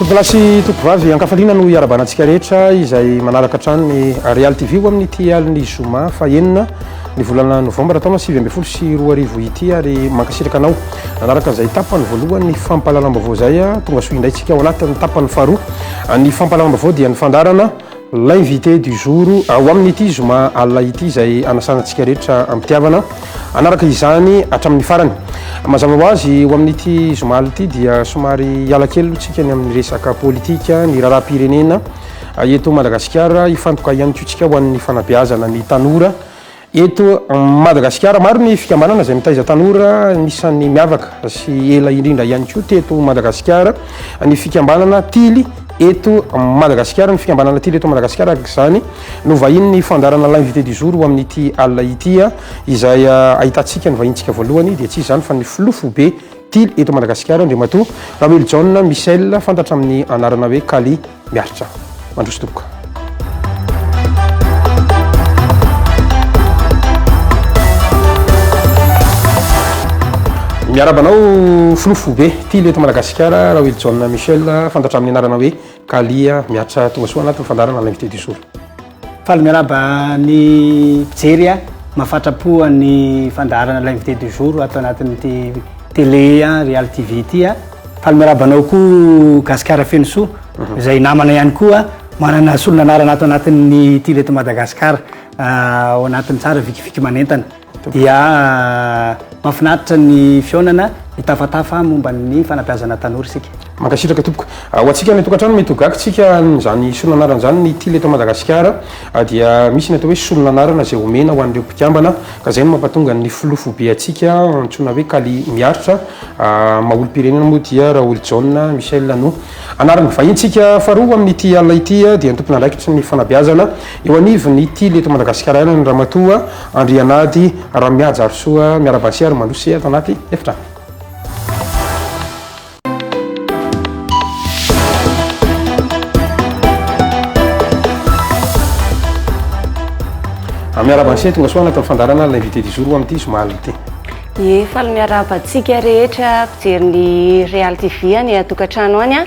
Tompolahy sy tompovavy ankafaliana no iarabanantsika rehetra izay manaraka hatrany ny Real TV ho amin'ity alin'ny zoma fahenina ny volana novambra taona sivy ambin'ny folo sy roa arivo ity ary mankasitraka anao nanaraka izay tapany voalohany ny fampahalalam-baovao izay tonga soa indray tsika ao anatin'ny tapany faharoa ny fampahalalam-baovao dia ny fandarana L'invité du jour, Ao amin'ity zoma alina ity izay anasana antsika rehetra am-pitiavana hanaraka izany hatramin'ny farany. Mazava ho azy, ho amin'ity zoma alina ity dia somary hiala kely aloha isika ny amin'ny resaka politika, ny raharaham-pirenena eto Madagasikara. Hifantoka ihany koa isika ho an'ny fanabeazana ny tanora. Eto Madagasikara, maro ny fikambanana izay mitaiza tanora, anisan'ny miavaka sy ela indrindra ihany koa teto Madagasikara ny fikambanana Tily eto Madagasikara. Ny fikambanana Tily eto Madagasikara araka izany no vahinin'ny fandaharana L'invité du jour ho amin'ity alina ity, izay ahitantsika ny vahintsika voalohany dia tsy iza izany fa ny filoha foibe Tily eto Madagasikara, Andriamatoa Rawely John Michel, fantatra amin'ny anarana hoe Kally. Miaritra. Mandroso tompoko. Miaraba anao filoha foibe ty leto Madagasikara Raoily John Michel fantatra amin'ny anarana hoe Kalia miaritra tonga soa anatin'ny fandaharana l'invité du jour. Faly miarahaba ny mpijery a! Mafatrapo ny fandaharana l'invité du jour ato anatin'ity télé Real TV ity a! Faly miarahaba anao koa Gasikara feno soa, izay namana ihany koa manana solon'anarana ato anatin'ny ity Reto Madagasikara ao anatin'ny tsara vikiviky manentana. Dia mahafinaritra ny fihaonana, mitafatafa momba ny fanabeazana tanora isika. Mankasitraka tompoko. Ho antsika any an-tokantrano mety ho gaga tsika amin'izany solon'anarana izany, ny tily eto Madagasikara dia misy ny atao hoe solon'anarana izay omena ho an'ireo mpikambana ka izay no mampatonga ny filoha foibe antsika antsoina hoe Kally Miaritra, maha-olom-pirenena moa dia Raholijaona Michel no anarany. Vahintsika faharoa amin'ity alina ity dia ny tompon'andraikitry ny fanabeazana eo anivon'ny tily eto Madagasikara ihany ny Ramatoa. Andrianady Ramihajarisoa Miarabasy ary Mandroso ato anaty efitrano. Miarahaba an'i Tonga soa anatin'ny fandarana l'invité du jour ho amin'ity zoma alina ity. Ie, faly miarahaba antsika rehetra mpijery ny Real TV any an-tokantrano any.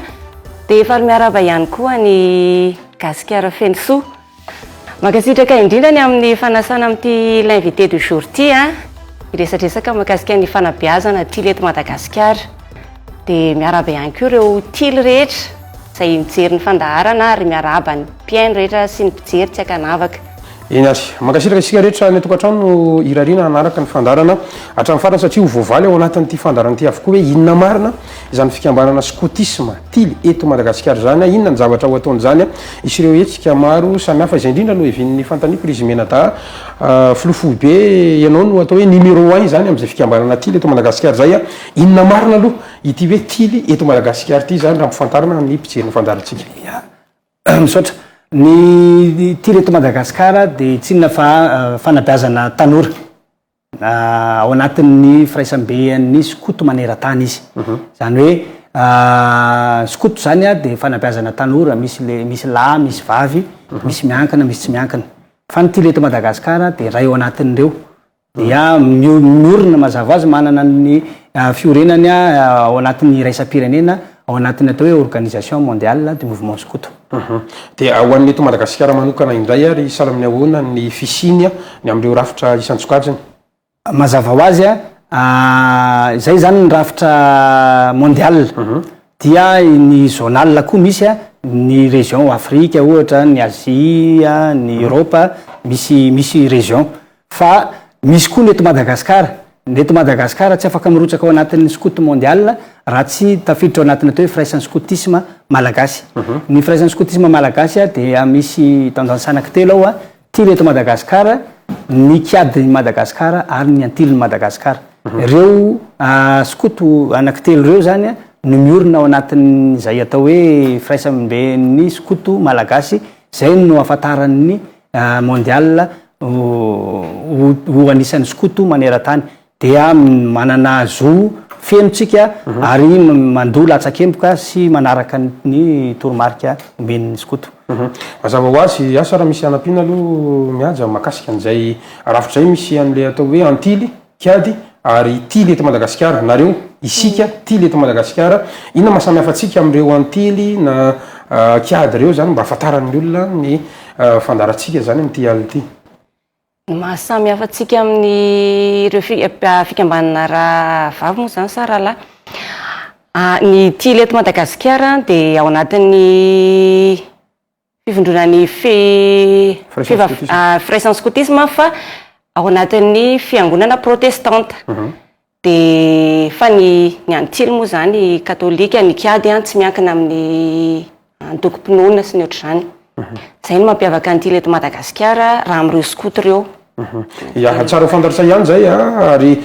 Dia faly miarahaba ihany koa ny gasikara feno soa. Mankasitraka indrindra ny amin'ny fanasana amin'ity l'invité du jour ity a! Hiresadresaka mahakasika ny fanabeazana tily eto Madagasikara. Dia miarahaba ihany koa ireo tily rehetra izay mijery ny fandaharana ary miarahaba ny mpihaino rehetra sy ny mpijery tsy ankanavaka. Eny ary. Mankasitraka isika rehetra any an-tokantrano irariana hanaraka ny fandaharana hatramin'ny farany satria ho voavaly ao anatin'ity fandaharana ity avokoa hoe inona marina izany fikambanana skotisma tily eto Madagasikara izany a, inona ny zavatra ho ataony izany a, hisy ireo hetsika maro samihafa, izay indrindra no hevin'ny fanontaniako ry Zimenadaha, filoha foibe ianao no atao hoe numéro un izany amin'izay fikambanana tily eto Madagasikara izay a, inona marina aloha ity hoe tily eto Madagasikara ity izany raha ampifantarina amin'ny mpijery ny fandaharantsika. Ya, misaotra, ny tily eto Madagasikara dia tsy inona fa fanabeazana tanora, Ao anatin'ny firaisambean'ny skoto maneran-tany izy. Izany hoe skoto izany dia fanabeazana tanora, misy le, misy lahy, misy vavy, misy miankina, misy tsy miankina. Fa ny Tily eto Madagasikara dia iray ao anatin'ireo. Dia miorina mazava ho azy, manana ny fiorenany ao anatin'ny iraisam-pirenena, ao anatin'ny atao hoe organisation mondiale du mouvement skoto. Humm. Dia ho an'ny eto Madagasikara manokana indray ary sahala amin'ny ahoana ny fisiany ny amin'ireo rafitra isan-tsokajiny? Mazava ho azy, izay izany ny rafitra mondial dia ny zonal koa misy, ny région Afrique ohatra, ny Asie, ny Europe, misy misy région. Fa misy koa ny eto Madagasikara. Ny eto Madagasikara tsy afaka mirotsaka ao anatin'ny Scout Mondial raha tsy tafiditra ao anatin'ny atao hoe Firaisan'ny Scoutisme Malagasy. Mhm. Ny Firaisan'ny Scoutisme Malagasy dia misy tanjan-tsanaky telo ao, Tily eto Madagasikara, ny Kiady i Madagasikara ary ny Antiliny Madagasikara. Mhm. Ireo ah, Scout anaky telo ireo izany no miorina ao anatin'izay atao hoe Firaisamben'ny Scout Malagasy, izay no ahafantaran'ny Mondial ho ho anisan'ny skoto maneran-tany dia manana zo feno tsika ary mandoa latsakemboka sy manaraka ny toromarika omen'ny skoto. Mazava ho azy, asa raha misy hanampiana aloha Mihaja mahakasika an'izay rafitra izay misy an'ilay atao hoe antily. Kiadi ary tily eto Madagasikara, nareo, isika, tily eto Madagasikara, inona maha samy hafa antsika amin'ireo antily na kiadi ireo izany mba hahafantaran'ny olona ny fandaharantsika izany amin'ity alina ity? Ny maha samy hafa antsika amin'ireo fikambanana rahavavy moa izany sa rahalahy? Ny tily eto Madagasikara dia ao anatin'ny fivondrona ny fe fivav firaisan'ny skotisma fa ao anatin'ny fiangonana protestanta mhm. de fa ny ny antily moa zany katolika ny kiady an tsy miankina amin'ny antokom-pinoana sy ny ohatr'izany mhm. zay no mampiavaka antily eto madagasikara raha amin'ireo skoto ireo Ya, tsara ho fantatr'zay ihany zay a, ary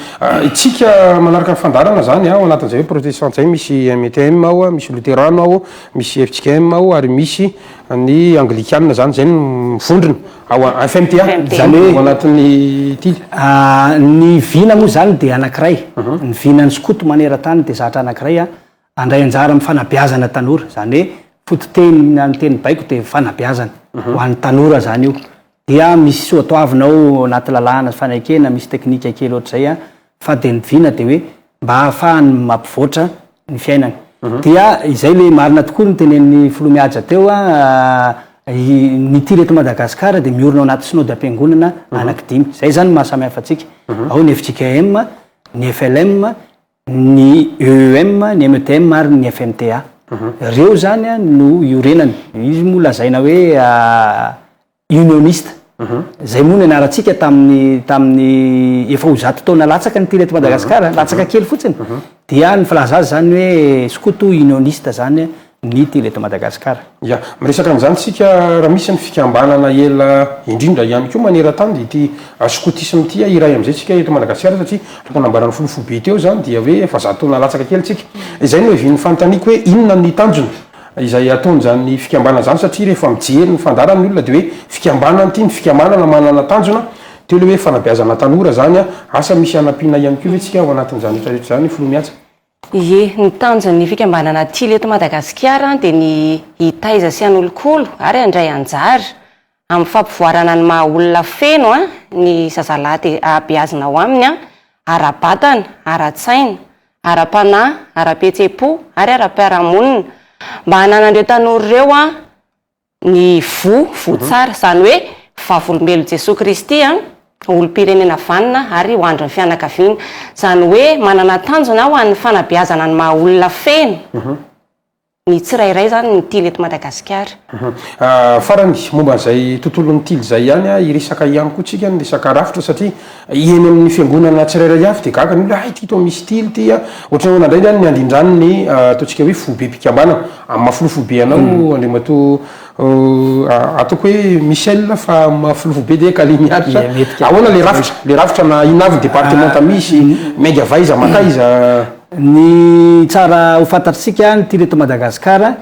tsika manaraka ny fandaharana zany a, ao anatin'zay hoe protestante zay misy MTM ao, misy loterano ao, misy fjkm ao ary misy ny anglikana zany, zay no mivondrona ao FMTA, zany hoe ao anatin'ny tily. Ny vina moa zany dia anankiray, ny vinan'ny skoto maneran-tany dia zatra anankiray a. Handray anjara amin'ny fanabeazana tanora, izany hoe fototeny na ny teny baiko dia fanabeazana mhm. ho an'ny tanora izany io. Dia misy soatoavina ao anaty lalàna sy fanekena, misy teknika kely ohatr'izay a, fa dia ny vina dia hoe mba hahafahany mampivoatra ny fiainany. Mhm. Dia izay le marina tokoa ny tenen'ny filoha mihaja teo a, ny tir eto Madagasikara dia miorina ao anaty synody am-piangonana mhm. anaky dimy. Izay izany mahasamihafa antsika. Mhm. Ao ny FJKM, ny FLM, ny EEM, ny METM ary ny FMTA. Ireo izany no iorenany. Izy moa lazaina hoe unioniste. Izay moa no nianarantsika tamin'ny tamin'ny efa ho zato taona latsaka ny mpila eto Madagasikara, latsaka kely fotsiny. Dia ny filaza azy izany hoe skoto unioniste izany ny tily eto Madagasikara. Ya, miresaka an'izany isika raha misy ny fikambanana ela indrindra ihany koa maneran-tany dia ity skotisma ity iray amin'izay isika eto Madagasikara satria araka nambaran'ny filoha foibe teo izany dia hoe efa zato taona latsaka kely isika. Izay no hevian'ny fanontaniako hoe inona ny tanjona izay ataon'izany fikambanana izany satria rehefa mijery ny fandaharany ny olona dia hoe fikambanana ity, ny fikambanana manana tanjona, teo ilay hoe fanabeazana tanora izany, asa misy hanampiana ihany koa ve isika ao anatin'izany rehetra rehetra izany filoha mihatsa? Ie, ny tanjon'ny fikambanana Tily eto Madagasikara dia ny hitaiza sy hanolokolo ary handray anjara amin'ny fampivoarana ny maha olona feno ny zazalahy dia hahabeazina ao aminy ara-batana, ara-tsaina, ara-panahy, ara-pihetsem-po ary ara-piarahamonina mba hananan'ireo tanora ireo ny voa, voa tsara, izany hoe vavolombelon'i Jesoa Kristy, olom-pirenena vanona ary ho andrin'ny fianakaviana. Izany hoe manana tanjona ho an'ny fanabeazana ny maha olona feno ny tsirairay izany ny tily eto Madagasikara. Farany, momba an'izay tontolon'ny tily izay ihany, hiresaka ihany koa tsika ny resaka rafitra satria, Eny amin'ny fiangonana tsirairay avy dia gaga ny olona, hay ity toa misy tily ity a! Ohatran'ny ahoana indray izany ny handrindrany ny ataontsika hoe fobem-pikambanana? Amin'ny maha filoha foibe anao Andriamatoa ataoko hoe Michel fa amin'ny maha filoha foibe dia Kally Miaritra, ahoana ilay rafitra? Ilay rafitra na inona avy ny departemanta misy, miainga avy aiza mankaiza? Ny tsara ho fantatr'isika, ny tily eto Madagasikara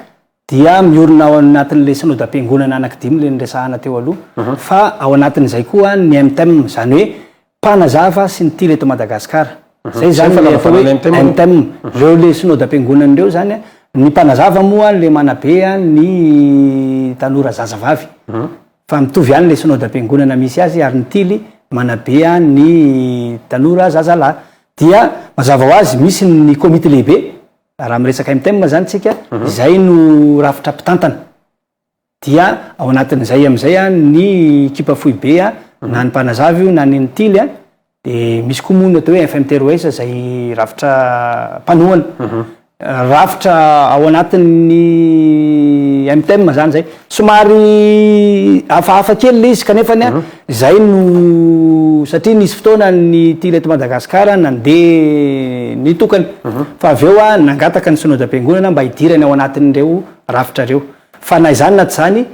Dia miorina ao anatin'ilay Synodam-piangonana anaky dimy ilay niresahana teo aloha, fa ao anatin'izay koa ny MTEM, izany hoe Mpanazava sy ny Tily eto Madagasikara. Izay izany ilay atao hoe MTEM. Ireo ilay Synodam-piangonana ireo izany, ny Mpanazava moa ilay manabe ny tanora zazavavy, fa mitovy ihany ilay Synodam-piangonana misy azy, ary ny Tily manabe ny tanora zazalahy. Dia mazava ho azy, misy ny Komity Lehibe, Raha miresaka MTEM izany tsika, izay no rafitra mpitantana. Dia ao anatin'izay amin'izay ny ekipa foibe, na ny mpanazava io na ny ntily, dia misy koa moa ny atao hoe FMT Roes izay rafitra mpanohana. Rafitra ao anatin'ny MTEM izany izay. Somary hafahafa kely ilay izy kanefa ny ahy izay no satria nisy fotoana ny tim eto Madagasikara nandeha nitokana fa avy eo nangataka ny Synodam-piangonana mba hidirany ao anatin'ireo rafitra ireo. Fa na izany na tsy izany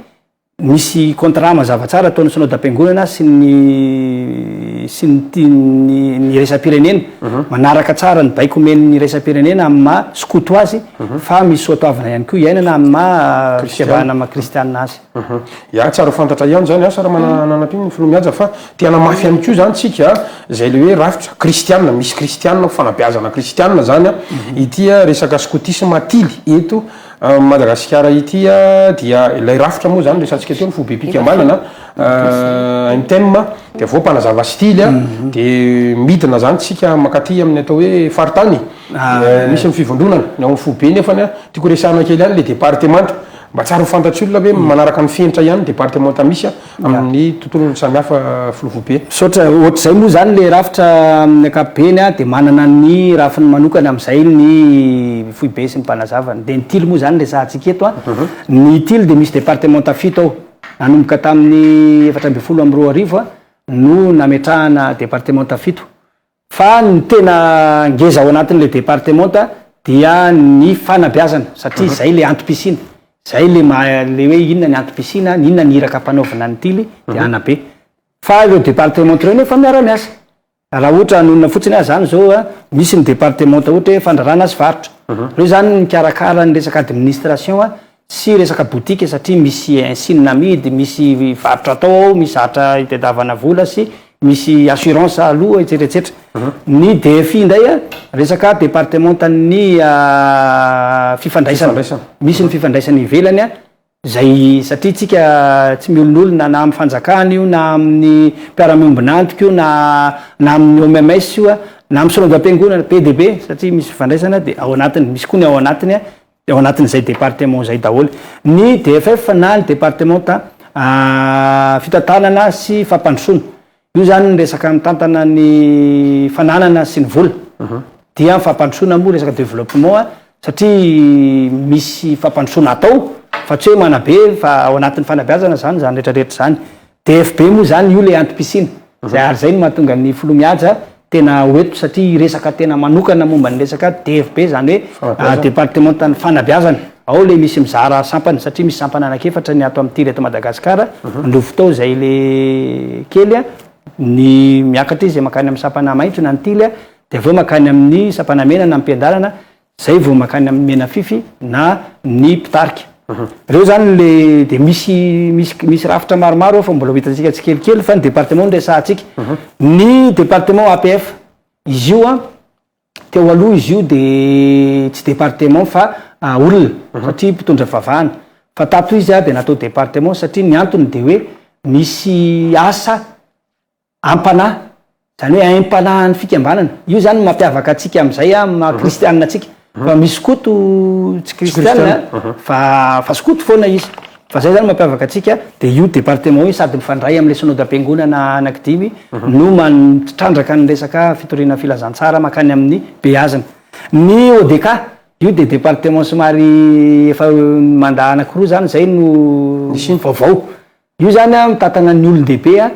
misy contrat mazava tsara ataon'ny Synodam-piangonana sy ny sy ny tim ny ny iraisam-pirenena manaraka tsara ny baiko omen'ny iraisam-pirenena amin'ny maha skoto azy Fa misy soa toavina ihany koa iainana amin'ny maha fiavahana maha kristianina azy. Ya, tsara ho fantatra ihany izany asa raha mananampiana ny filoha mihaja fa te hanamafy ihany koa izany tsika izay le hoe rafitra kristianina, misy kristianina ho fanabeazana kristianina izany ity resaka skotisma atily eto Madagasikara ity dia ilay rafitra moa izany resatsika teo ny foibe pikambanana MTEM dia avy eo mpanazava stily dia midina izany tsika makaty amin'ny atao hoe faritany. Misy ny fivondronana, ny ao amin'ny foibe nefa ny ahy, tiako resahana kely ihany ilay departemanta, mba tsara ho fantatr'ny olona ve manaraka ny fenitra ihany ny departemanta misy amin'ny tontolony samihafa filoha foibe? Misaotra, ohatr'izay moa izany ilay rafitra amin'ny ankapobeny dia manana ny rafiny manokana amin'izay ny foibe sy ny mpanazavany, dia ny tily moa izany resahantsika eto, ny tily dia misy departemanta fito ao, nanomboka tamin'ny efatra ambin'ny folo amby roa arivo no nametrahana departemanta fito, Fa ny tena ngeza ao anatin'ilay departemanta dia ny fanabeazana satria izay ilay antom-pisiana. Izay ilay maha ilay hoe inona ny antom-pisiana, ny inona ny iraka ampanaovina ny tily dia hanabe. Fa ireo departemanta ireo nefa miara-miasa. Raha ohatra hanonona fotsiny aho izany izao a, misy ny departemanta ohatra hoe fandraràna sy varotra. Ireo izany mikarakara ny resaka administration Tsy resaka boutique satria misy insigne amidy, misy varotra atao ao, misy zavatra itadiavana vola sy misy assurance aloa etsetra etsetra. Ny DFI indray a, resaka departemantan'ny fifandraisana. Misy ny fifandraisana ivelany a, izay satria tsika tsy miolonolona na amin'ny fanjakana io na amin'ny mpiara-miombon'antoka io na na amin'ny OMMS io a, na amin'ny solaovam-piangonana be dia be satria misy fifandraisana dia ao anatiny, misy koa ny ao anatiny a, ao anatin'izay département izay daholo ny DFF na ny départementa fitantanana sy fampandrosoana. Io izany ny resaka mitantana ny fananana sy ny vola. Dia ny fampandrosoana moa resaka développement satria misy fampandrosoana atao fa tsy hoe manabe fa ao anatin'ny fanabeazana izany izany rehetra rehetra izany. DFB moa izany io ilay antom-pisiana. Izay ary izay no mahatonga ny filoha Mihaja tena ho eto satria hiresaka tena manokana momba ny resaka DFB izany hoe departemantan'ny fanabeazana. Ao ilay misy mizara sampana satria misy sampana anankiefatra ny ato amin'ny tir eto Madagasikara. Andovo tao izay ilay kely ny miakatra izy dia mankany amin'ny sampana maitso na ny tily dia avy eo mankany amin'ny sampana mena na ampiandarana Zay vao mankany amin'ny menafify na ny mpitarika. Reo zany le de misy misy misy rafitra maromaro ao fa mbola ho hitantsika tsikelikely fa ny département no resahantsika. Ny département APF izy io an teo aloha izy io de tsy département fa olona satria mpitondra fivavahana fa tato izy dia natao département satria ny antony dia hoe misy asa am-panahy, izany hoe aim-panahin'ny fikambanana. Io izany no mampiavaka antsika amin'izay amin'ny maha kristianina antsika. Fa misy koto tsy kristianina fa fa skoto foana izy. Fa izay izany no mampiavaka antsika. Dia io departement io sady mifandray amin'ilay synodam-piangonana anankidimy no manmtitrandraka ny resaka fitoriana filazantsara mankany amin'ny beazina. Ny ODK, io dia departement somary efa mandà anankiroa izany izay no vaovao. Io zany an mitatagna ny olondehibe an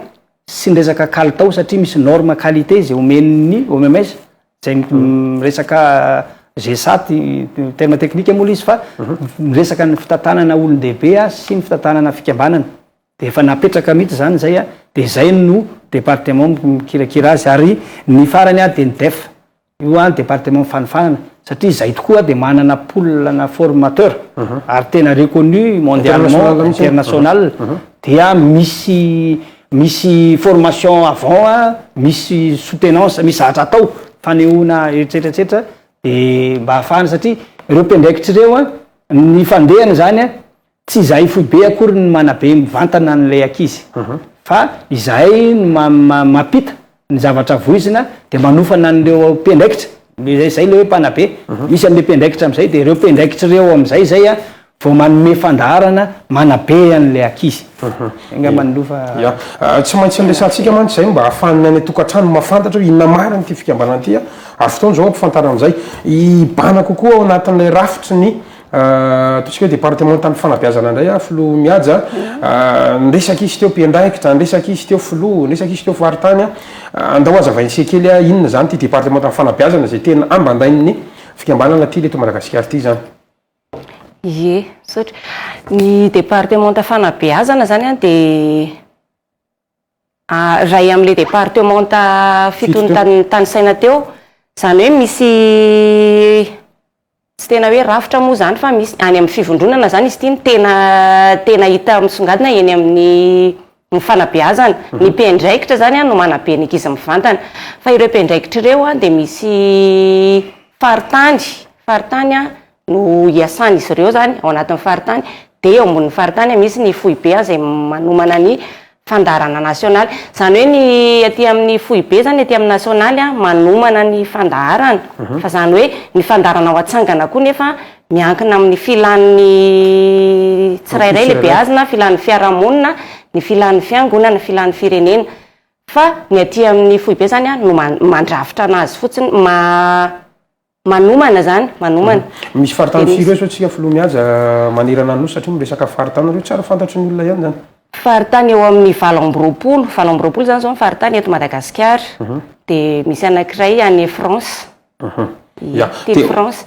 sy ny resaka kalitao satria misy norme qualité izay omen'ny OMS izay miresaka GSAT terme technique moa ilay izy fa miresaka ny fitantanana olondehibe an sy ny fitantanana fikambanana dia efa napetraka mihitsy izany izay an dia izay no département mikirakira azy ary ny farany an dia ny DEF Io ary département fanofanana satria izay tokoa dia manana pool ana formateur ary tena reconnu mondialement, international, dia misy misy formation avant a, misy soutenance, misy zavatra atao fanehoana etsetra etsetra dia mba afahana satria ireo mpiandraikitra ireo a ny fandehany izany a Tsy izahay foibe akory no manabe mivantana an'ilay ankizy fa izahay no mampita ny zavatra voizina dia manofana an'ireo mpiandraikitra, izay izay ilay hoe mpanabe, misy amin'ilay mpiandraikitra amin'izay dia ireo mpiandraikitra ireo amin'izay izay vao manome fandaharana manabe an'ilay ankizy. Izay angamba no loha fa. Tsy maintsy niresahantsika mantsy izay mba ahafahan'ny any an-tokantrano mahafantatra hoe inona marina ity fikambanana ity ary fotoana izao hampifantarana an'izay hibahana kokoa ao anatin'ilay rafitry ny Ataontsika hoe departemantaly fanabeazana indray aho, Filoha Mihaja. Niresaka izy teo mpiandraikitra, niresaka izy teo filoha, niresaka izy teo faritany. Andao hazavain'ny sekoly inona izany ity departemantan'ny fanabeazana izay tena ambandain'ny fikambanana Tily eto Madagasikara ity izany. Ie, misaotra. Ny departemanta fanabeazana izany dia. Ray amin'ilay departemanta fito notanisaina teo, izany hoe misy tsy tena hoe rafitra moa izany fa misy any amin'ny fivondronana izany izy ity no tena tena hita misongadina eny amin'ny ny fanabeazana. Ny mpiandraikitra izany no manabe ny ankizy mivantana. Fa ireo mpiandraikitra ireo dia misy faritany faritany no hiasan'izy ireo izany ao anatin'ny faritany dia eo ambonin'ny faritany misy ny foibe izay manomana ny fandaharana nasionaly. Izany hoe ny aty amin'ny foibe izany, aty amin'ny nasionaly manomana ny fandaharana. Mhm. Fa izany hoe ny fandaharana ho atsangana koa nefa miankina amin'ny filan'ny tsirairay ilay beazina, filan'ny fiarahamonina, ny filan'ny fiangonana, filan'ny firenena. Fa ny aty amin'ny foibe izany no mandrafitra anazy fotsiny, ma Manomana zany, manomana. Misy faritany firy eo zao tsika filoha mihaja manerana ny nosy satria miresaka faritany reo tsara fantatry ny olona ihany zany. Faritany eo amin'ny valo amby roapolo, valo amby roapolo zany zao ny faritany eto Madagasikara, de misy anakiray any France, telo France.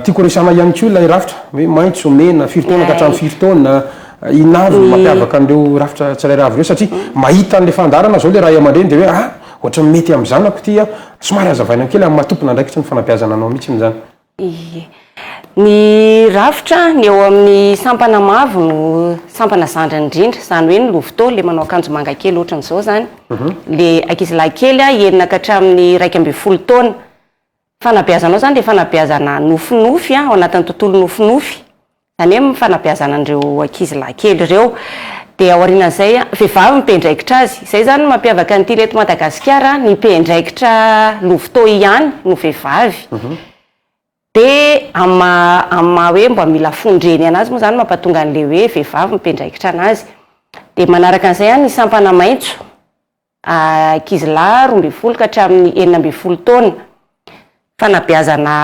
Tiako resahana ihany koa ilay rafitra hoe maitso, mena, firy taona ka hatramin'ny firy taona, inona avy no mampiavaka an'ireo rafitra tsirairay avy ireo satria mahita an'ilay fandaharana zao ilay ray aman-dreny de hoe ah ohatran'ny mety amin'ny zanako ity ah, Somary hazavaina kely amin'ny maha tompon'andraikitry ny fanabeazana anao mihitsy izany. Ie. Ny rafitra, ny eo amin'ny sampana mavo no sampana zandriny indrindra, izany hoe ny lovitô, ilay manao akanjo manga kely ohatran'izao izany, ilay ankizilahy kely enina ka hatramin'ny iraika ambin'ny folo taona. Fanabeazanao izany dia fanabeazana nofinofy, ao anatin'ny tontolo nofinofy. izany hoe amin'ny fanabeazana an'ireo ankizy lahy kely ireo, dia aorianan'izay an, vehivavy no mpiandraikitra azy, izay izany no mampiavaka ny tily eto Madagasikara an, ny mpiandraikitra lovotoa ihany no vehivavy, dia amin'ny maha amin'ny maha hoe mba mila fondreny an'azy moa izany no mampatonga an'ilay hoe vehivavy no mpiandraikitra an'azy, dia manaraka an'izay an ny sampana maitso, ankizy lahy roa ambin'ny folo ka hatramin'ny enina ambin'ny folo taona, fanabeazana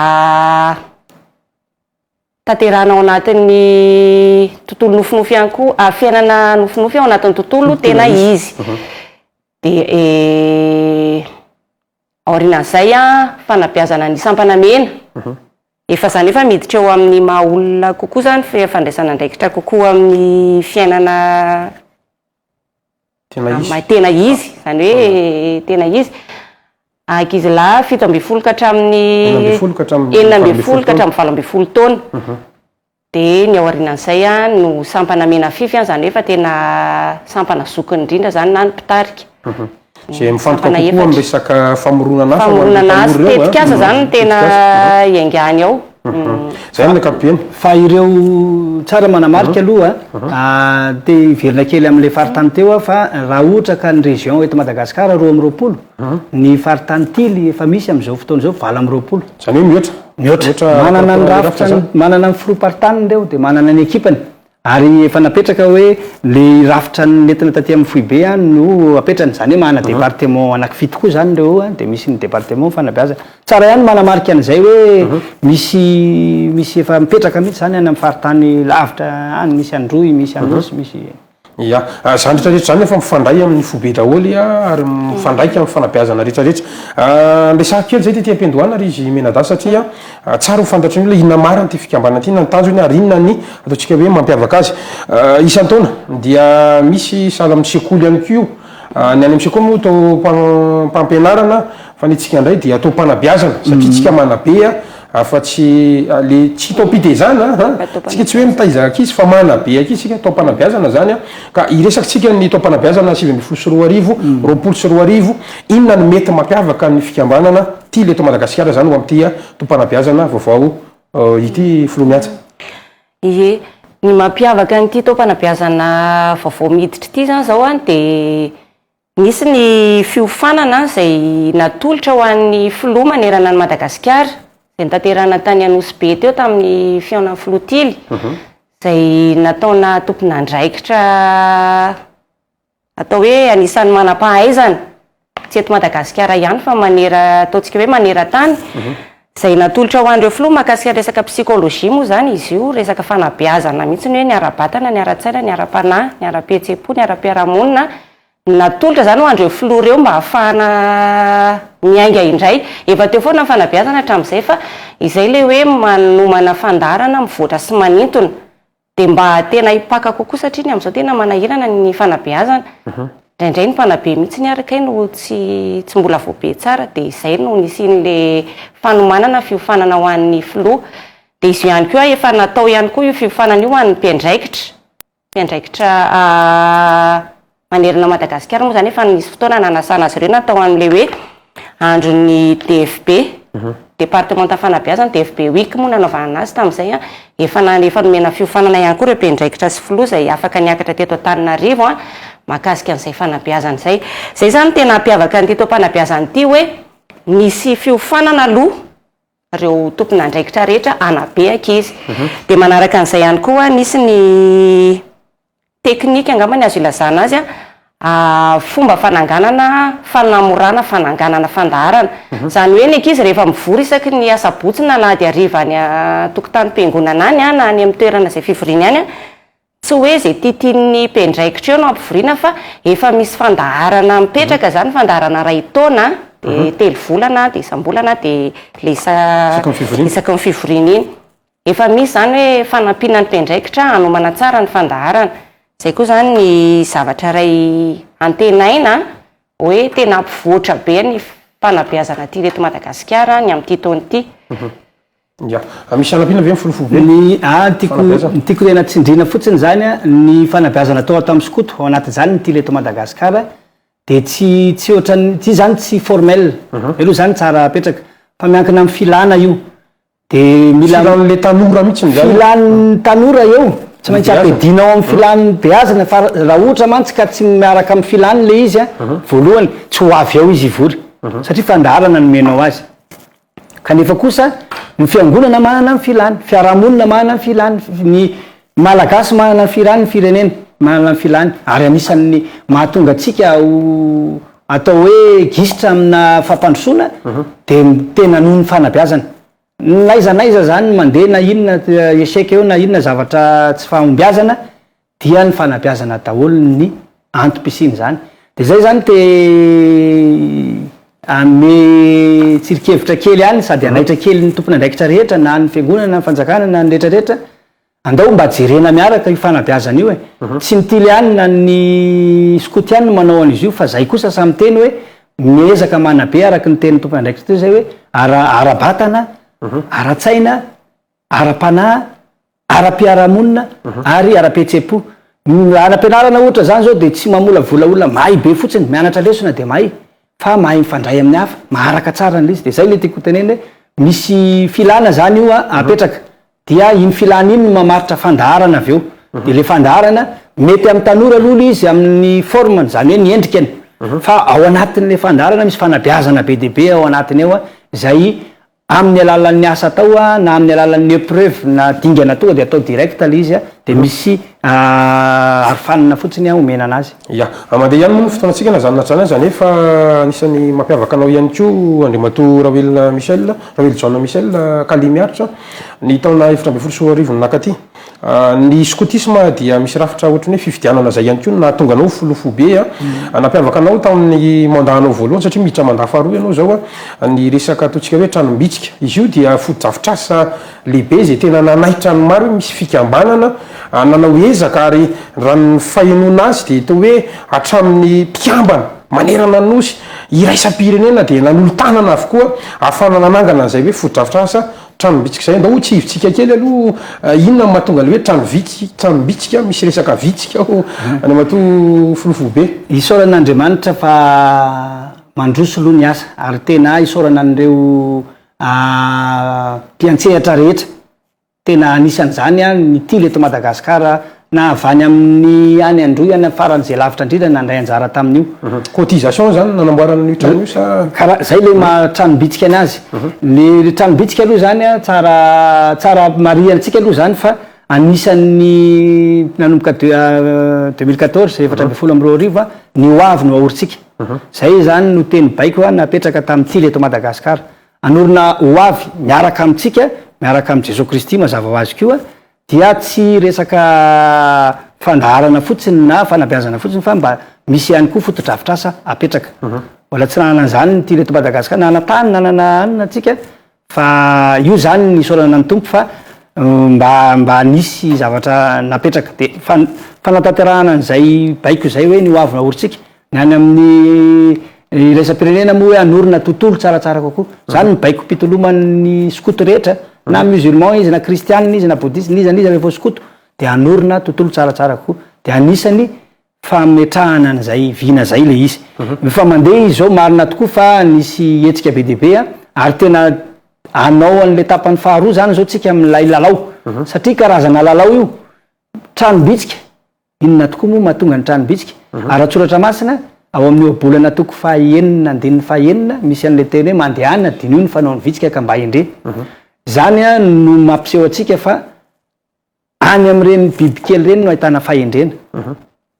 tanterahina ao anatin'ny tontolo nofinofy ihany koa, ary fiainana nofinofy ao anatin'ny tontolo tena izy. Dia aorianan'izay an, fanabeazana ny sampana mena, efa izany efa miditra eo amin'ny maha olona kokoa izany, fandraisana andraikitra kokoa amin'ny fiainana. tena izy zany hoe tena izy ankizilahy fito ambin'ny folo ka hatramin'ny enina ambin'ny folo ka hatramin'ny valo ambin'ny folo taona mhm. dia ny ao aorianan'izay a no sampana mena fify an zany hoe fa tena sampana zokiny indrindra zany na ny mpitarika mhm. Izay mifantoka kokoa amin'ny resaka famoronana asa ho an'ireo tanora ireo. Famoronana asa, tetika asa izany no tena iangany ao. Izay ny ankapobeny. Fa ireo, tsara manamarika aloha, te hiverina kely amin'ilay faritany teo aho fa raha ohatra ka ny région eto Madagasikara roa amby roapolo, ny faritany tily efa misy amin'izao fotoana izao valo amby roapolo. Izany hoe mihoatra. Mihoatra. Manana ny rafitra, manana ny filoham-paritaniny ireo dia manana ny ekipany. Ary efa napetraka hoe le rafitra nentina taty amin'ny foibe an no apetrany, izany hoe manana département anaky fito koa izany ireo an, dia misy ny département ny fanabeazana. Tsara ihany ny manamarika an'izay hoe misy misy efa mipetraka mihitsy izany any amin'ny faritany lavitra any, misy Androy, misy Anosy, misy. Ia. Izany rehetra rehetra izany efa mifandray amin'ny foibe daholo an, ary mifandraika amin'ny fanabeazana rehetra rehetra. Resahako kely izay tety am-piandohana ry izy Menada satria. Tsara ho fantatry ny olona inona marina ity fikambanana ity na ny tanjony ary inona ny ataontsika hoe mampiavaka azy. Isan-taona dia misy sahala amin'ny sekoly ihany koa io. Ny any amin'ny sekoly moa taom-pampianarana fa ny antsika indray dia taom-panabeazana satria isika manabe afa-tsy le tsy taom-pitezana an! Isika tsy hoe mitaiza ankizy fa manabe ankizy isika, taom-panabeazana izany ka hiresaka antsika ny taom-panabeazana sivy ambin'ny folo sy roa arivo, roapolo sy roa arivo. Inona no mety mampiavaka ny fikambanana Tily eto Madagasikara izany ho amin'ity taom-panabeazana vaovao ity Filoha Miantsa? Ie, ny mampiavaka an'ity taom-panabeazana vaovao miditra ity izany izao dia nisy ny fiofanana izay natolotra ho an'ny Filoha manerana an'i Madagasikara, izay notanterahina tany Anosibe teo tamin'ny fihaonan'ny Filoha Tily, izay nataona tompon'andraikitra. atao hoe anisan'ny manam-pahaizana tsy eto Madagasikara ihany fa manera ataontsika hoe maneran-tany izay natolotra ho an'ireo filoha mahakasika ny resaka psychologie moa izany izy io resaka fanabeazana mihitsy ny hoe ny ara-batana ny ara-tsaina ny ara-panahy ny ara-pihetsem-po ny ara-piarahamonina no natolotra izany ho an'ireo filoha ireo mba hahafahana miainga indray efa teo foana ny fanabeazana hatramin'izay fa izay ilay hoe manomana fandaharana mivoatra sy manintona Dia mba tena hipaka kokoa satria ny amin'izao tena manahirana ny fanabeazana. Indraindray ny mpanabe mihitsy ary kay no tsy tsy mbola voabe tsara dia izay no nisian'ilay fanomanana fiofanana ho an'ny filoha. Dia izy io ihany koa efa natao ihany koa io fiofanana io ho an'ny mpiandraikitra, mpiandraikitra manerana Madagasikara moa izany efa nisy fotoana nanasana azy ireo na tao amin'ilay hoe andron'ny DFB, Departemanta Fanabeazana, DFB Week moa nanaovana azy tamin'izay, efa na efa nomena fiofanana ihany koa ireo mpiandraikitra sy filoha izay afaka niakatra teto Antananarivo mahakasika an'izay fanabeazana izay. Izay izany no tena hampiavaka an'ity taom-panabeazana ity hoe nisy fiofanana aloha. ireo tompon'andraikitra rehetra hanabe ankizy. Dia manaraka an'izay ihany koa, nisy ny teknika angamba ny azo ilazana azy, fomba fananganana fanamorana fananganana fandaharana. Izany hoe ny ankizy rehefa mivory isaky ny asabotsy na alahady hariva any an-tokotanim-piangonana any na any amin'ny toerana izay fivoriany any, Tsy hoe izay tiatian'ny mpiandraikitra eo no ampivoriana fa efa misy fandaharana mipetraka izany, fandaharana iray taona, dia telo volana, dia isam-bolana, dia ilay isa isaky ny fivoriana, isaky ny fivoriana iny. Efa misy izany hoe fanampiana ny mpiandraikitra hanomana tsara ny fandaharana. Izay koa izany ny zavatra iray antenaina hoe tena hampivoatra be ny fanabeazana aty eto Madagasikara ny amin'ity taona ity. Ya. Misy hanampiana ve ny folofoibe? Ny ahy ny tiako ny tiako tena tsindriana fotsiny izany an, ny fanabeazana tao ato amin'ny skoto, ao anatin'izany ny tily eto Madagasikara, dia tsy tsy ohatran'ny, ity izany tsy formel, izay aloha izany tsara apetraka, fa miankina amin'ny filana io, dia mila, Filan'ilay tanora mihitsiny izany. Filan'ny tanora eo, tsy maintsy ampiadiana ao amin'ny filan'ny beazina, fa raha ohatra mantsy ka tsy miaraka amin'ny filany ilay izy an, voalohany tsy ho avy ao izy hivory, satria fandaharana no omenao azy. Kanefa kosa ny fiangonana manana ny filany, fiarahamonina manana ny filany, ny Malagasy manana ny filany, ny firenena manana ny filany ary anisan'ny mahatonga antsika ho atao hoe gisitra amina fampandrosoana mhm. dia tena noho ny fanabeazana. N'aiza n'aiza zany mandeha na inona échec eo na inona zavatra tsy fahombiazana dia ny fanabeazana daholo ny antom-pisian'izany. Dia izay izany te hanome tsirinkevitra kely ihany sady hanaitra kely ny tompon'andraikitra rehetra na ny fiangonana, ny fanjakana na ny rehetrarehetra, andao mba jerena miaraka io fanabeazana io e. Mhm. Tsy ny tiliany na ny skoto ihany no manao an'izy io fa izay kosa samy teny hoe miezaka manabe araka ny tenin'ny tompon'andraikitra teo izay hoe ara-batana, mhm. ara-tsaina, ara-panahy, ara-piarahamonina ary ara-pihetseham-po. Ny ara-pianarana ohatra izany izao dia tsy mamolavola olona mahay be fotsiny, mianatra lesona dia mahay, fa mahay mifandray amin'ny hafa, maharaka tsara an'ilay izy. Dia izay ilay tiako hotenenina hoe misy filana izany io apetraka, dia iny filana iny no mamaritra fandaharana avy eo. Dia ilay fandaharana, mety amin'ny tanora aloha ilay izy amin'ny forme-ny, izany hoe ny endrikany, fa ao anatin'ilay fandaharana misy fanabeazana be dia be ao anatiny ao izay Amin'ny alalan'ny asa atao na amin'ny alalan'ny epreuve na dingana tonga dia atao direct ilay izy dia misy arofanina fotsiny omena anazy. Ya. Mandeha ihany moa ny fotoanantsika na izany na tsy izany aza nefa anisan'ny mampiavaka anao ihany koa Andriamatoa Rahoelina Michel, Rahoelijaona Michel, kally miaritra, ny taona efatra ambin'ny folo sy roa arivo nakaty. Ny skotisma dia misy rafitra ohatran'ny hoe fifidianana izay ihany koa no nahatonga anao ho filoha foibe. Nampiavaka anao tamin'ny mandat-nao voalohany satria miditra mandat faharoa ianao izao ny resaka ataontsika hoe tranom-bitsika. Izy io dia fotodrafitrasa lehibe izay tena nanaitra ny maro hoe misy fikambanana nanao ezaka ary raha ny fahenoana azy dia toa hoe hatramin'ny mpikambana manerana ny Nosy iraisam-pirenena dia nanolo-tanana avokoa ahafahana nanangana an'izay hoe fotodrafitrasa. Tranom-bitsika izay ndao tsy hivitsika kely aloha inona no mahatonga ilay hoe tranom-vitsy tranom-bitsika misy resaka vitsika ao Andriamatoa Filoha Foibe. Isaorana Andriamanitra fa mandroso aloha ny asa ary tena isaorana an'ireo mpiantsehatra rehetra tena anisan'izany ny tily eto Madagasikara na avy any amin'ny any Androy any amin'ny farany izay lavitra indrindra nandray anjara tamin'io. Cotisation izany nanamboarana an'io trano io sa? Karaha izay ilay maha tranom-bitsika ny azy. Ilay tranom-bitsika aloha izany an, tsara tsara marihina antsika aloha izany fa anisan'ny nanomboka deux deux mille quatorze, efatra ambin'ny folo amby roa arivo, ny ho avy no ahorintsika. Izay izany no teny baiko napetraka tamin'ny tily eto Madagasikara. Hanorina ho avy miaraka amintsika, miaraka amin'i Jesoa Kristy mazava ho azy koa, Dia tsy resaka fandaharana fotsiny na fanabeazana fotsiny fa mba misy ihany koa fotodrafitrasa apetraka. Mbola tsy nanana an'izany ny tily eto Madagascar, nanana tany, nanana anona antsika fa io izany ny isaorana ny Tompo fa mba mba nisy zavatra napetraka. Dia fanatanterahana an'izay baiko izay hoe ny hoavy naorintsika Ny any amin'ny iraisam-pirenena moa hoe hanorina tontolo tsaratsara kokoa. Izany no baikom-pitoloman'ny skoto rehetra, na musulman izy, na kristianina izy, na bodista, n'iza n'iza rehefa ho skoto, dia hanorina tontolo tsaratsara kokoa. Dia anisan'ny fametrahana an'izay vina izay ilay izy. Efa mandeha izy izao, marina tokoa fa nisy hetsika be dia be, ary tena hanao an'ilay tapany faharoa izany izao isika amin'ilay lalao, satria karazana lalao io, tranom-bitsika, Inona tokoa moa mahatonga ny tranom-bitsika? Ara-tsoratra masina, ao amin'ny ohabolana toko fahaenina andininy fahaenina, misy an'ilay teny hoe mandehana, diniho ny fanaon'ny vitsika ka mba hendré. Izany no mampiseho antsika fa any amin'ireny bibikely ireny no ahitana fahendrena.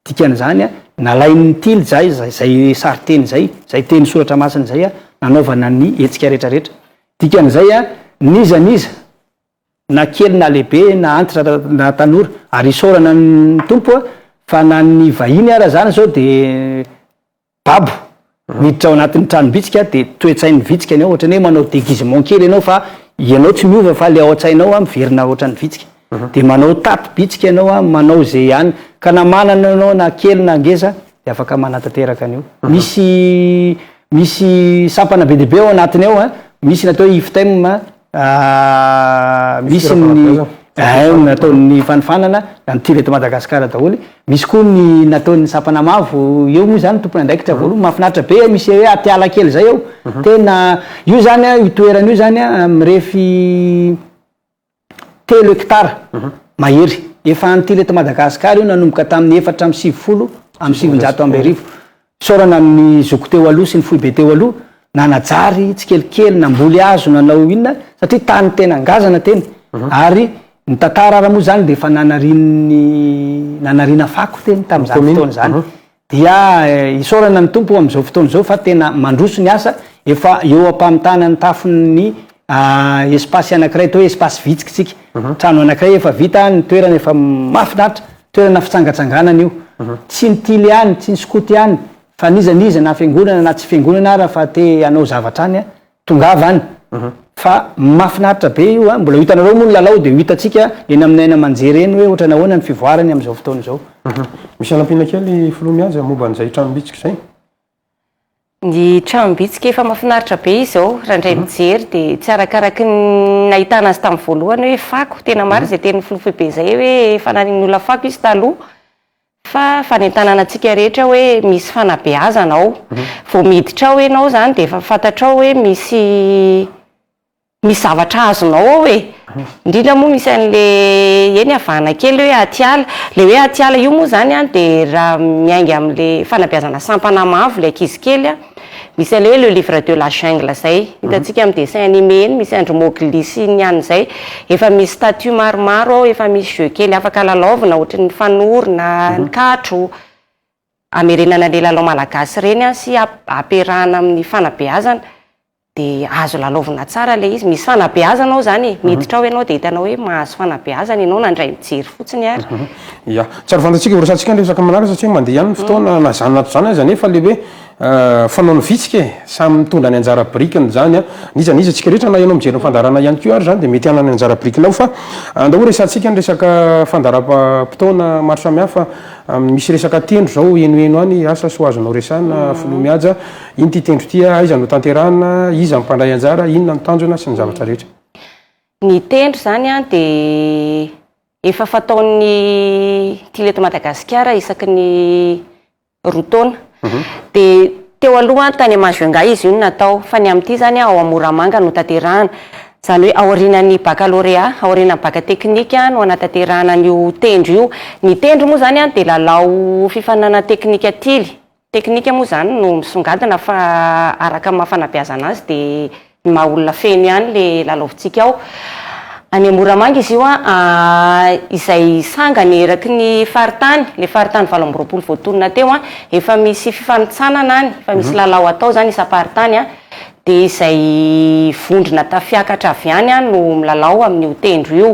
Dikan'izany, nalain'ny tily zay izay sarinteny izay, izay teny soratra masina izay, nanaovana ny hetsika rehetrarehetra. Dikan'izay, n'iza n'iza na kely na lehibe na antitra na tanora ary isaorana ny tompo a fa na ny vahiny ara zany zao de babo miditra ao anatin'ny tranom-bitsika de toe-tsain'ny vitsika ny ao ohatrany hoe manao déguisement kely ianao fa ianao tsy miova fa le ao an-tsainao a miverina ohatran'ny vitsika mhm. de manao tato bitsika ianao a manao ze ihany ka na manana ianao na kely na ngeza de afaka manatanteraka an'io mhm. misy misy sampana be dia be ao anatiny ao a misy natao iftem Ah, misy ny haine nataon'ny fanofanana na ny tir eto Madagasikara daholo. Misy koa ny nataon'ny sapana mavo eo moa zany tompony andraikitra voalohany mahafinaritra be misy hoe atiala kely zay eo. Mhm. Tena io zany a io toerana io zany a mirefy telo hectare mhm. mahery. Efa an'ity eto Madagasikara io nanomboka tamin'ny efatra amby sivifolo amby sivinjato amby arivo. Isaorana ny zoky teo aloha sy ny foibe teo aloha nanajary tsikelikely namboly hazo nanao inona satria tany tena ngazana teny ary ny tantara ary moa zany dia efa nanarian'ny nanariana fako teny tamin'izany fotoana izany dia isaorana ny Tompo amin'izao fotoana izao fa tena mandroso ny asa efa eo am-pamitana ny tafon'ny espace anakiray atao hoe espace vitsiky tsika trano anakiray efa vita ny toerana efa mahafinaritra toerana fitsangatsanganana io tsy ny tily ihany tsy ny skoto ihany fa n'iza n'iza na fiangonana na tsy fiangonana ara fa te hanao zavatra any a tongava any fa mahafinaritra be io a mbola ho hitanareo moa ny lalao dia ho hitantsika eny amin'ny aina aman-jery eny hoe ohatra nahoana ny fivoarany amin'izao fotoana izao misy anampiana kely filoha mihaja momba an'izay trano bitsika izay Ny tranom-bitsika efa mahafinaritra be izao, raha indray mijery dia tsy arakaraky ny nahitana azy tamin'ny voalohany hoe fako, tena marina izay tenin'ny filoha foibe izay hoe fananian'olona fako izy taloha, fa fanentanana antsika rehetra hoe misy fanabeazana ao, vao miditra ao ianao izany dia efa fantatrao hoe misy. Misy zavatra azonao ao e! indrindra moa misy an'le eny avahana kely hoe atiala, le hoe atiala io moa zany an de raha miainga amle fanabeazana sampana mavo le ankizy kely an, misy an'le hoe le livre de la jungle zay hitantsika amin'ny dessin anime eny, misy andry mogli sy ny an'izay, efa misy statut maromaro ao, efa misy jeux kely afaka lalaovina ohatry ny fanoro na ny katro. hamerenana le lalao malagasy reny an sy ampiarahana amin'ny fanabeazana dia azo lalaovina tsara le izy, misy fanabeazana ao zany e, miditra ao ianao dia hitanao hoe mahazo fanabeazana ianao nandray mijery fotsiny ary. Ya, tsy ary fantatsika horesahantsika ny resaka manaraka satria mandeha ihany ny fotoana na zany na tsy zany aza nefa le hoe fanaon'ny vitsika e, samy mitondra ny anjara birikiny zany an, n'iza n'iza antsika rehetra na ianao mijery ny fandaharana ihany koa ary zany dia mety hanana ny anjara birikiny ao fa andao horesahantsika ny resaka fandaharam-potoana maro samihafa. Am misy resaka tendro zao henoheno any asa soa azonao resahana filoha mihaja, ino ty tendro ty, aiza no tanterahana, iza no mpandray anjara, inona no tanjona sy ny zavatra rehetra. Ny tendro zany an dia efa fataon'ny Tily eto Madagasikara isaky ny roa taona. Dia teo aloha tany Majunga izy io no natao, fa ny amin'ity izany ao amin'ny Moramanga no tanterahana. Izany hoe aorianan'ny bakalorea, aorianan'ny baka teknika no hanatanterahana an'io tendro io. Ny tendro moa izany dia lalao fifaninanana teknika tily. Teknika moa izany no misongadina fa araka ny maha fanabeazana azy dia. Ny maha olona feno ihany le lalaovitsika ao. Any Moramanga izy io an, izay sangany eraky ny faritany, le faritany valo amby roapolo voatonona teo an, efa misy fifanintsanana any, efa misy lalao atao zany isam-paritany an, de izay vondrona tafiakatra avy any an no milalao amin'io tendro io.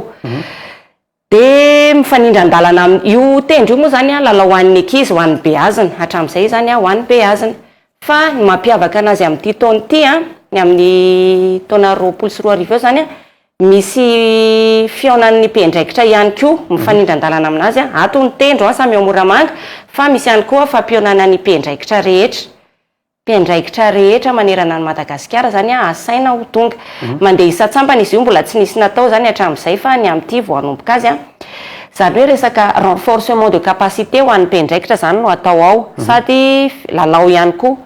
Dia mifanindran-dalana amin'. Io tendro io moa izany an, lalao ho an' ny ankizy, ho an' ny beazina, hatramin' izay izany an, ho an' ny beazina. Fa ny mampiavaka anazy amin' ity taona ity an, ny amin' ny taona roapolo sy roa arivo eo izany an, misy fihaonan' ny mpiandraikitra ihany koa mifanindran-dalana aminazy an, ato ny tendro an, samy ao Moramanga, fa misy ihany koa fampihaonana ny mpiandraikitra rehetra. mpiandraikitra rehetra manerana an'i Madagasikara izany asaina ho tonga. Mandeha isan-tsambany izy io, mbola tsy nisy natao izany hatramin'izay fa ny amin'ity vao hanomboka azy. Izany hoe resaka renforcement de capacité ho an'ny mpiandraikitra izany no atao ao sady lalao ihany koa.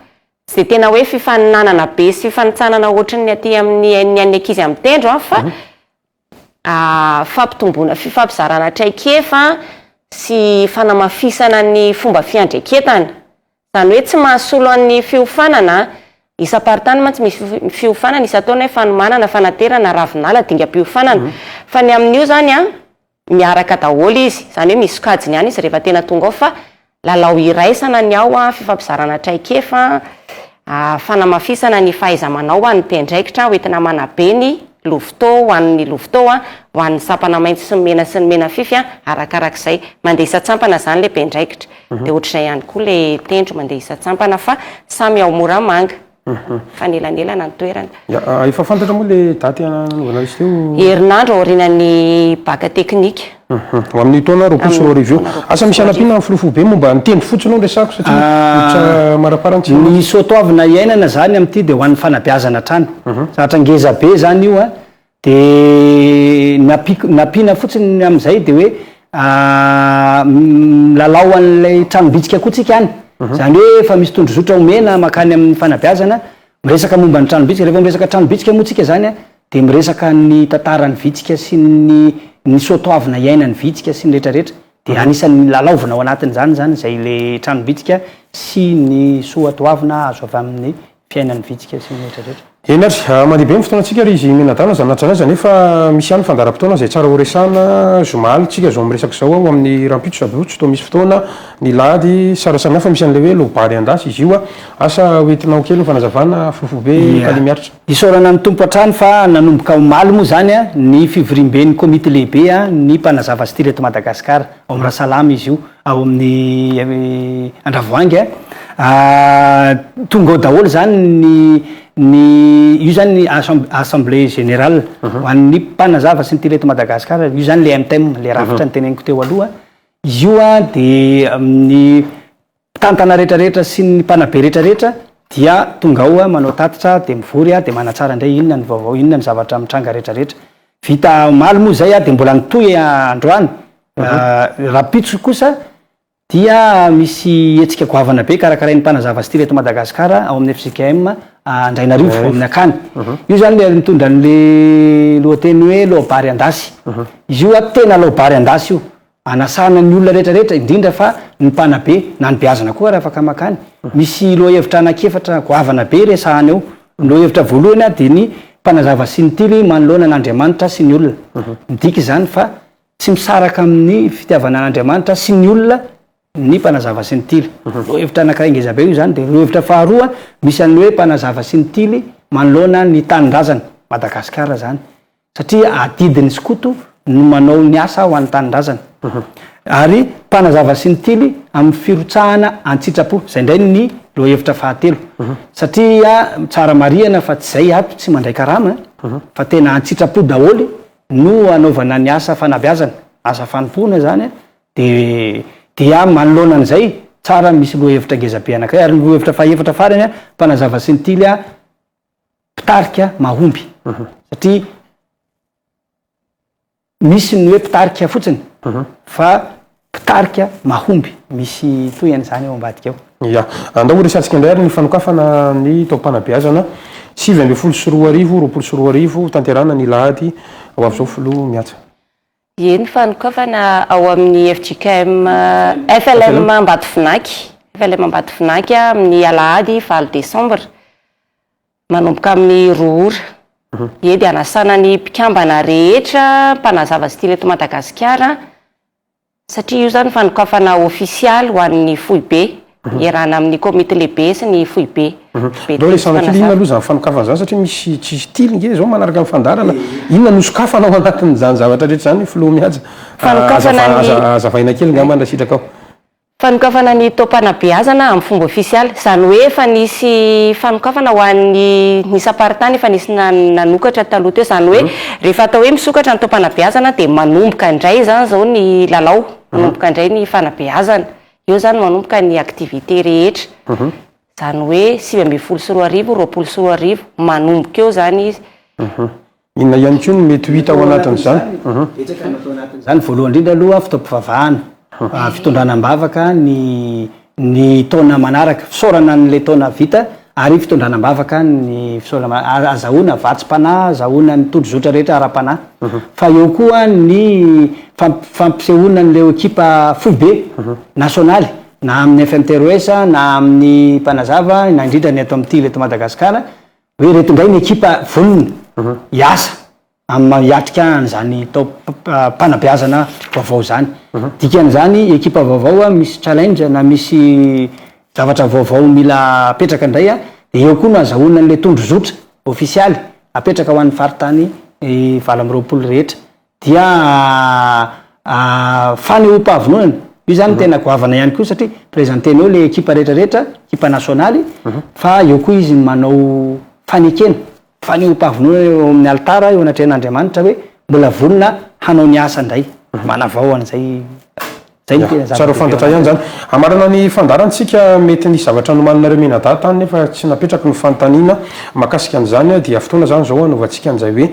Tsy dia tena hoe fifaninanana be sy fifanintsanana ohatry ny aty amin'ny ny an'ny ankizy amin'ny tendro fa fampitomboana fifampizarana traikefa sy fanamafisana ny fomba fiandreketana. Izany hoe tsy mahasolo an'ny fiofanana, isam-paritany mantsy misy fiofanana isan-taona hoe fanomanana, fanaterana, ravinala, dingam-piofanana. Fa ny amin'io izany miaraka daholo izy, izany hoe misy sokajiny ihany izy rehefa tena tonga ao fa Lalao iraisana ny ao, fifampizarana traikefa, fanamafisana ny fahaiza-manao ho an'ny mpiandraikitra ho entina manabe ny Louvto ho an'ny Louvto, ho an'ny sampana maitso sy ny mena sy ny menafify arakarak'izay. Mandeha isan-tsampana izany ilay mpiandraikitra. Dia ohatr'izay ihany koa ilay tendro mandeha isan-tsampana fa samy ao Moramanga. Mhm. fanelanelana ny toerana ah, efa fantatra moa le daty anaovana izy teo herinandro aorianan'ny baka teknika mhm. ho amin'ny taona roapolo sy roa arivo eo asa misy anampiana ny filofo be momba ny tendro fotsiny ao resako satria ah, maraparany tsy ny soatoavina iainana zany amin'ity dia ho an'ny fanabeazana hatrany mhm. zatra ngeza be zany io a Dia ny ampiana fotsiny amin'izay dia hoe milalao an'ilay tranom-bitsika koa tsika any. Izany hoe efa misy tondrozotra omena mankany amin'ny fanabeazana, miresaka momba ny tranom-bitsika. Rehefa miresaka tranom-bitsika moa tsika izany dia miresaka ny tantaran'ny vitsika sy ny ny soa toavina iainan'ny vitsika sy ny rehetra rehetra. Dia anisan'ny lalaovina ao anatin'izany izany izay ilay tranom-bitsika sy ny soa toavina azo avy amin'ny fiainan'ny vitsika sy ny rehetra rehetra. Eny ary, mandeha be ny fotoanantsika ry izy mianadahy na zanatry zanaiza nefa misy ihany ny fandaharam-potoana izay tsara horesahana, zoma alintsika zao miresaka izao aho amin'ny rahampitso sady rotsy toa misy fotoana ny lahady, sara samihafa misy an'ilay hoe lobary an-dasy izy io, asa ho entinao kely ny fanazavana fofobe kale miaritra. Isaorana ny Tompo hatrany fa nanomboka omaly moa izany ny fivoriamben'ny komity lehibe ny mpanazava style eto Madagasikara, ao Amirasalama izy io, ao amin'ny Andravoahangy a, tonga ao daholo zany ny ny io zany ny assemblée générale ho an'ny mpanazava sy ny tele eto Madagasikara, io zany le MTEM, le rafitra niteneniko teo aloha, izy io a de ny mpitantana retraretra sy ny mpanabe retraretra dia tonga ao manao tatitra de mivory a de manatsara indray inona ny vaovao inona ny zavatra mitranga retraretra, vita omaly moa zay a de mbola nitohy androany Rahampitso kosa dia misy hetsika goavana be karakarain'ny mpanazava style eto Madagasikara ao amin'ny fjkm Andrainarivo ao amin'ny Akany. Io izany ilay mitondra an'ilay lohateny hoe laobary an-dasy. Izy io ato tena laobary an-dasy io. Anasana ny olona rehetrarehetra indrindra fa ny mpanabe na ny beazina koa raha afaka makany. Misy lohahevitra anankiefatra goavana be resahana eo. Ny lohahevitra voalohany dia ny mpanazava sy ny tily manoloana an'Andriamanitra sy ny olona. Midika izany fa Tsy misaraka amin'ny fitiavana an'Andriamanitra sy ny olona ny mpanazava sy ny tily. Mhm. Lohevitra anankiray ngeza be io izany, dia lohevitra faharoa misy an'ny hoe mpanazava sy ny tily manoloana ny tanindrazana, Madagasikara izany. Satria adidin'ny skoto no manao ny asa ho an'ny tanindrazana. Mhm. Ary mpanazava sy ny tily amin'ny firotsahana an-tsitrapo, izay indray ny lohevitra fahatelo. Mhm. Satria tsara marihana fa tsy izay ato, tsy mandray karama, fa tena an-tsitrapo daholo no anaovana ny asa fanabeazana, asa fanompoana izany, dia dia manoloana an'izay, tsara misy lohahevitra ngeza be anankiray, ary ny lohahevitra fahefatra farany, mpanazava sy ny tily, mpitarika mahomby, satria misy ny hoe mpitarika fotsiny fa mpitarika mahomby misy toy an'izany ao ambadika ao. Ia. Andao horesahantsika indray ary ny fanokafana ny taom-panabeazana sivy ambin'ny folo sy roa arivo, roapolo sy roa arivo, hotanterahana ny alahady ho avy izao filoha miatsa. Ie, ny fanokafana ao amin'ny fjkm FLM Ambatovinaky, FLM Ambatovinaky, amin'ny alahady valo desambra, manomboka amin'ny roa ora. Ie, dia hanasana ny mpikambana rehetra mpanazava style eto Madagasikara satria io izany fanokafana ofisialy ho an'ny foibe, iarahana amin'ny komity lehibe sy ny foibe. Aleo resahana kely inona aloha izany fanokafana izany satria misy tsy misy tily nge izao manaraka ny fandaharana, inona no sokafana ao anatin'izany zavatra rehetra izany filoha mihaja? Aza azavaina kely ngambany raha sitraka ao. Fanokafana ny taom-panabeazana amin'ny fomba ofisialy, izany hoe efa nisy fanokafana ho an'ny ny isam-paritany efa nisy nanokatra taloha teo, izany hoe rehefa atao hoe misokatra ny taom-panabeazana dia manomboka indray izany izao ny lalao, manomboka indray ny fanabeazana, eo izany manomboka ny activités rehetra, izany hoe sivy ambin'ny folo sy roa arivo, roapolo sy roa arivo, manomboka eo izany izy. Inona ihany koa no mety ho hita ao anatin'izany? Betsaka no atao anatin'izany. Voalohany indrindra aloha fotoam-pivavahana, fitondrana am-bavaka ny ny taona manaraka, fisaorana an'ilay taona vita ary fitondrana am-bavaka ny fisaorana, azahoana vatsim-panahy, azahoana ny tondrozotra rehetra ara-panahy. Fa eo koa ny fampisehoana an'ilay ekipa foibe nasionaly, na amin'ny FMTROS, na amin'ny Mpanazava, na indrindra ny eto amin'ity, eto Madagasikara, Hoe ireto indray ny ekipa vonona hiasa amin'ny maha hiatrika an'izany taom-panabeazana vaovao izany. Dikan'izany, ekipa vaovao misy challenge na misy zavatra vaovao mila apetraka indray dia eo koa no azahoana an'ilay tondrozotra ofisialy apetraka ho an'ny faritany valo amby roapolo rehetra. dia fanehoam-pahavononana, io zany no tena goavana ihany koa satria presenter-nao ilay ekipa rehetra rehetra, ekipa nasionaly, fa eo koa izy manao fanekena, fanehoam-pahavononana eo amin'ny alitara eo anatrehan'Andriamanitra hoe mbola vonona hanao ny asa indray, manavao an'izay. Tsara ho fantatra ihany izany. Hamarana ny fandaharantsika, mety nisy zavatra nomaninareo mianadahy tany nefa tsy napetraky ny fanontaniana mahakasika an'izany dia fotoana izany izao hanaovantsika an'izay hoe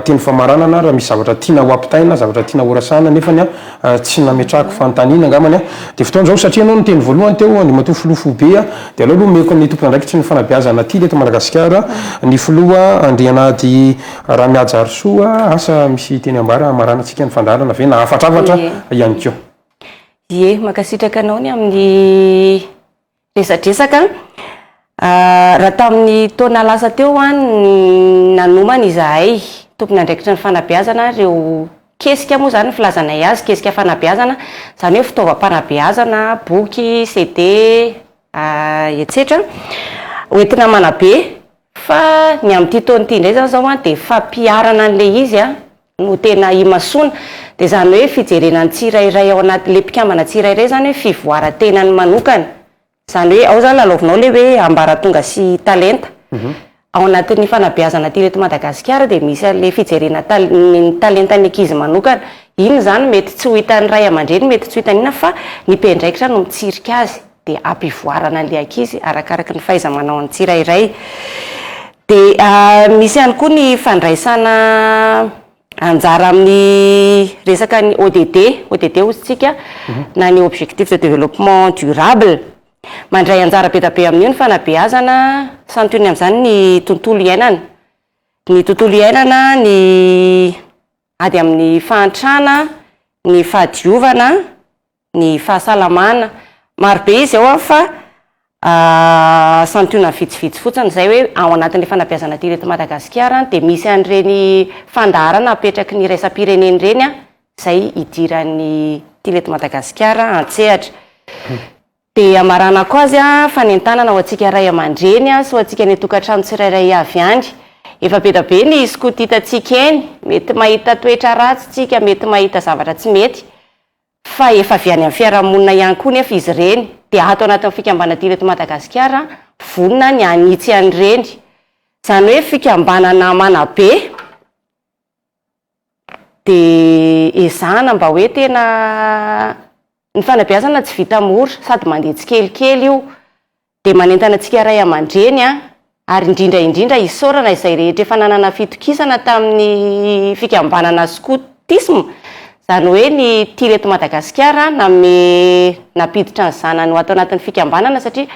teny famaranana raha misy zavatra tiana ho ampitaina, zavatra tiana horasana nefany tsy nametrahako fanontaniana angambany dia fotoana izao satria ianao niteny voalohany teo Andriamatoa Filoha Foibe dia aleo aloha omeko ny tompon'andraikitry ny fanabeazana atily eto Madagasikara ny Filoha Andrianahady Ramiajarisoa, asa misy teny ambara hamaranantsika ny fandaharana ve na hafatrafatra ihany koa? Ie, mankasitraka anao ny amin'ny resadresaka. Raha tamin'ny taona lasa teo hoa no nanomana izahay tompon'andraikitry ny fanabeazana ary ireo kesika moa izany ny filazanay azy, kesika fanabeazana, izany hoe fitaovam-panabeazana, boky, CD, etsetra, hoentina manabe. Fa ny amin'ity taona ity indray izany izao dia fampiharana an'ilay izy no tena imasoana. Dia izany hoe fijerena ny tsirairay ao anatin'ilay mpikambana tsirairay izany hoe fivoaran-tenany manokana. Izany hoe ao izany lalaovinao ilay hoe ambaratonga sy talenta. Ao anatin'ny fanabeazana aty eto Madagasikara dia misy an'ilay fijerena ny talentan'ny ankizy manokana. Inona izany? Mety tsy ho hitan'ny ray aman-dreny, mety tsy ho hitan'inona fa ny mpiandraikitra no mitsirika azy. dia ampivoarana an'ilay ankizy arakaraky ny fahaiza-manao ny tsirairay. Dia misy ihany koa ny fandraisana anjara amin'ny resaka ny ODD, ODD hozy tsika, na ny objectif de développement durable. Mandray anjara be dia be amin'io ny fanabeazana, santionany amin'izany ny tontolo iainana. Ny tontolo iainana, ny ady amin'ny fahantrana, ny fahadiovana, ny fahasalamana, maro be izy ao an, fa santionany vitsivitsy fotsiny izay hoe ao anatin'ilay fanabeazana aty ireto Madagasikara an, dia misy an'ireny fandaharana apetraky ny iraisam-pirenena ireny an, izay idiran'ny aty ireto Madagasikara an-tsehatra. Dia hamaranako azy an, fanentanana ho antsika ray aman-dreny sy ho antsika any an-tokantrano tsirairay avy ihany. Efa be dia be ny skoto hitantsika eny, mety mahita toetra ratsy isika, mety mahita zavatra tsy mety, fa efa avy any amin'ny fiarahamonina ihany koa nefa izy ireny dia ato anatin'ny fikambanadina eto Madagasikara vonona ny hanitsy an'ireny, izany hoe fikambanana manabe dia ezahana mba hoe tena ny fanabeazana tsy vita mora sady mandeha tsikelikely io dia manentana antsika ray aman-dreny ary indrindra indrindra hisaorana izay rehetra efa nanana fitokisana tamin'ny fikambanana skotisma, izany hoe ny Tir eto Madagasikara nanome nampiditra ny zanany ho ato anatin'ny fikambanana satria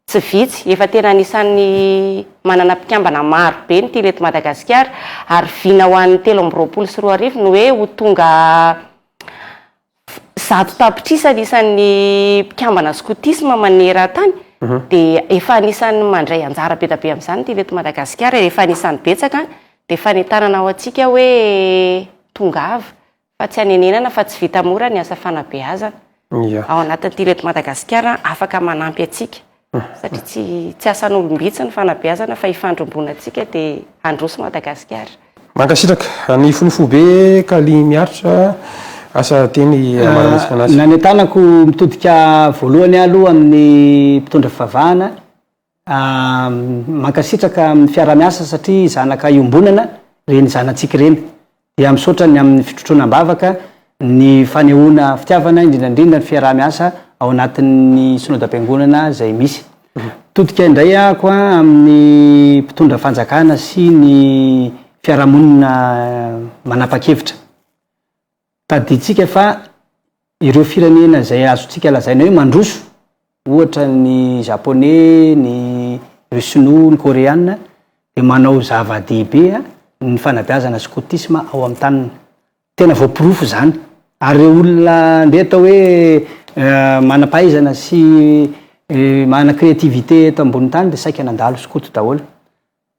tsy vitsy, efa tena anisan'ny manana mpikambana maro be ny Tir eto Madagasikara ary vina ho an'ny telo amby roapolo sy roa arivo ny hoe ho tonga Zato tapitrisa ny isan'ny mpikambana skotisma maneran-tany dia efa anisan'ny mandray anjara be dia be amin'izany ny TV eto Madagasikara. Rehefa anisan'ny betsaka dia fanentanana ho antsika hoe tongava fa tsy hanenenana fa tsy vita mora ny asa fanabeazana. Ao anatin'ny TV eto Madagasikara afaka manampy antsika. satria tsy tsy asan'olom-bitsy ny fanabeazana fa ifandromboanantsika dia handroso Madagasikara. Mankasitraka. Any fony foibe Kally miaritra asa teny Marametsaka Anasi. Ny any an-tanako mitodika voalohany ahy aloha amin'ny mpitondra fivavahana. Mankasitraka amin'ny fiaraha-miasa satria zanaka iombonana ireny zanatsika ireny. Dia misaotra ny amin'ny fitrotroana am-bavaka ny fanehoana fitiavana, indrindra indrindra ny fiaraha-miasa ao anatin'ny Synodam-piangonana izay misy. Mitodika indray ahako amin'ny mpitondra fanjakana sy ny fiarahamonina manapa-kevitra. Tadidintsika fa. Ireo firenena izay azontsika lazaina hoe mandroso, ohatra ny Japoney, ny ry Sinoa, ny Koreana, dia manao zava-dehibe ny fanabeazana skotisma ao amin'ny taniny. Tena voaporofo izany. Ary ireo olona andeha atao hoe manam-pahaizana sy manana créativité eto ambonin'ny tany dia saika nandalo skoto daholo.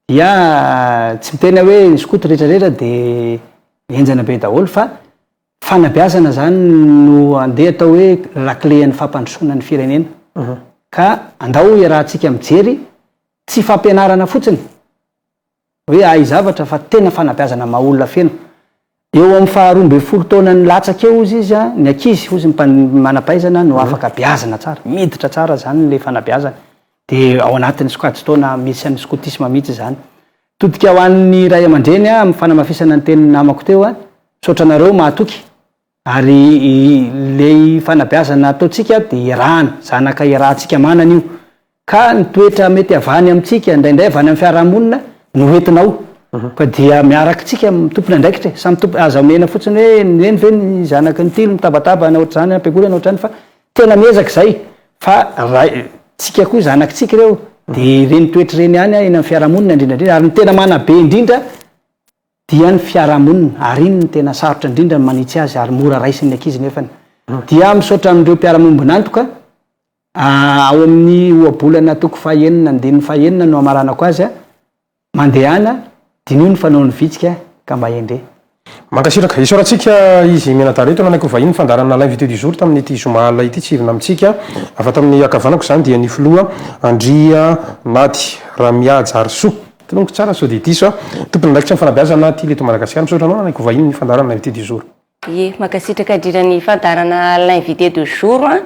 Dia tsy miteny aho hoe ny skoto rehetrarehetra dia henjana be daholo fa. Fanabeazana zany no andeha atao hoe laklen'ny fampandrosoana ny firenena. Ka andao hiarahantsika mijery tsy fampianarana fotsiny hoe ahy zavatra fa tena fanabeazana maha olona feno. Eo amin'ny faha roa ambin'ny folo taonany latsaka eo hozy izy an, ny ankizy hozy ny manampahaizana no afaka beazina tsara, miditra tsara zany le fanabeazana. Dia ao anatin'ny sokajin-taona misy an'ny skotisma mihitsy izany. Todika ho an'ny ray aman-dreny amin'ny fanamafisana ny tenin'ny namako teo. Misaotra anareo mahatoky. Ary ilay fanabeazana ataontsika dia iarahana, zanaka iarahantsika manana io. Ka ny toetra mety havany amintsika, indraindray avy any amin'ny fiarahamonina no hoentina ao. Ka dia miaraka tsika mitompina andraikitra e. Samy tompo, aza omena fotsiny hoe ny reny ve ny zanaka ny tily mitabataba any ohatr'izany any am-piangonana ohatr'izany fa Tena miezaka izay fa raha tsika koa zanaky tsika ireo de ireny toetra ireny ihany eny amin'ny fiarahamonina indrindra indrindra ary ny tena manabe indrindra dia ny fiarahamonina ary iny ny tena sarotra indrindra ny manitsy azy ary mora raisin'ny ankizy nefany dia misaotra an'ireo mpiara-miombon'antoka ah, ao amin'ny ohabolana toko fahenina andininy fahenina no hamaranako azy ah. Mandehana, diniho ny fanaon'ny vitsika ka mba hendrey. Mankasitraka. Isaorantsika izy mianadahy ireto nanaiky ho vahiny fandaharan'ny l'invité du jour tamin'ity zoma alina ity, tsy hivona amintsika avy ato amin'ny ankavanako izany dia ny filoha Andrianady Ramiajarisoa, tononiko tsara sao dia diso aho, tompon'andraikitry ny fanabeazana Tily eto Madagasikara, misaotra anao nanaiky ho vahiny ny fandaharan'ny l'invité du jour. Ye, mankasitraka indrindra ny fandaharana l'invité de jour a.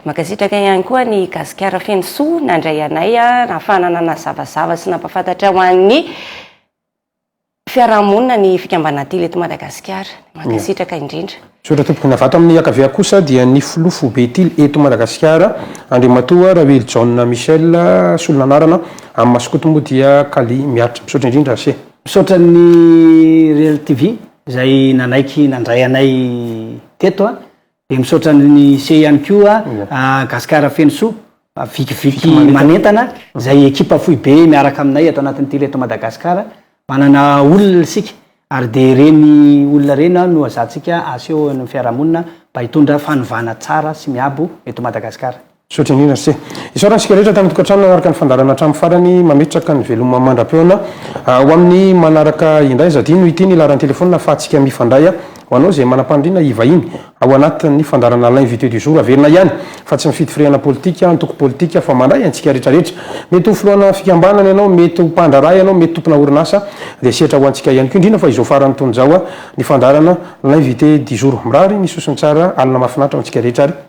Mankasitraka ihany koa ny Gasikara feno soa nandray anay nahafahana nanazavazava sy nampafantatra ho an'ny fiarahamonina ny fikambanana Tily eto Madagasikara. Mankasitraka indrindra. Misaotra tompoko. Ny avy ato amin'ny ankavia kosa dia ny filoha foibe Tily eto Madagasikara, Andriamatoa Rahoelijaona Michel, solon'anarana amin'ny maha skoto moa dia Kally Miaritra. Misaotra indrindra Ase. Misaotra ny Reel TV. izay nanaiky nandray anay teto a. Dia misaotra an'i Ise ihany koa a, Gasikara feno soa, Vikiviky manentana, izay ekipa foibe miaraka aminay ato anatin'ny Tele-to Madagasikara. Manana olona isika ary dia ireny olona ireny no hazatsika aseho eo amin'ny fiarahamonina mba hitondra fanovana tsara sy miabo eto Madagasikara. Misaotra indrindra Rse. Isaorana isika rehetra tamin'ny tokantrano nanaraka ny fandaharana hatramin'ny farany. Mametraka ny veloma mandra-peona ho amin'ny manaraka indray. Zadino ity ny laharan'ny telefaonina ahafahantsika mifandray. Ho anao izay manam-paniriana hivahiny ao anatin'ny fandaharana L'invité du jour, averina ihany fa tsy mifidy firehana politika, antoko politika fa mandray antsika rehetrarehetra. Mety ho filohana fikambanana ianao, mety ho mpandraharaha ianao, mety tompona orinasa dia sehatra ho antsika ihany koa. Indrindra fa izao farany tony izao ny fandaharana L'invité du jour. Mirary ny sosony tsara, alina mahafinaritra ho antsika rehetra ary.